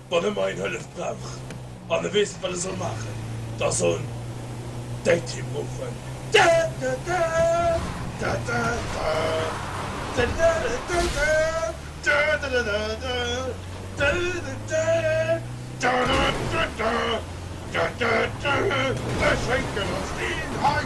Wann ëmmer een Hëllef brauch an e weess net wat e soll maachen, da soll en däi Team ruffen. Ech schénken ons deen hei.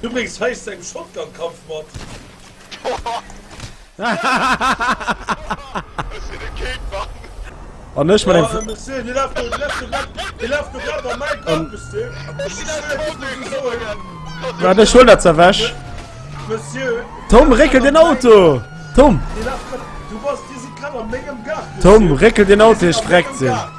Du bréngs heist deng Shotgun-Kampf mat. An ech mat engem Fl. Waarde ech huelen dat ze ewech. Tom, réckel den Auto! Tom! Tom, réckel den Auto, ier ech vreckt sinn.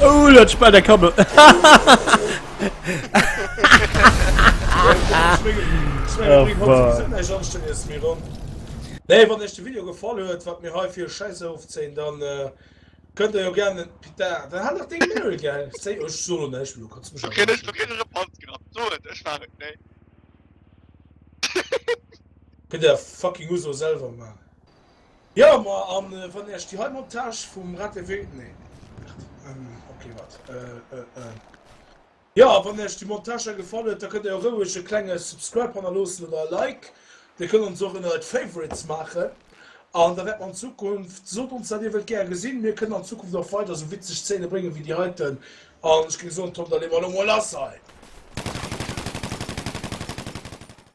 Oh dat spell dat kann mer Nee wann iech de Video gefall huet, wat mir hei fir e Schäiss erofzéien, dann kënnt der jo gären en Pita, dann hat nach deng Mary gell? Séi ech soen lo näischt, Milo kanns mech awer net Kënnt der fucking Uso selwer man. Jo ma an wann ech déi hei Montage vum RATW nee merd ok wat eh eh eh jo a wann ech déi Montage hei gefall huet da kënnt der jo roueg e klenge Subscribe hanner loossen oder e Like dir kënnt ons och ënnert Favorites maachen an da wäert mer an Zukunft sot ons wat dir wëllt gär gesinn mir kënnen an Zukunft och weider esou witzeg Zéine bréngen wéi déi heiten an ech géing soen Tom da leeë mer elo mol lass hei.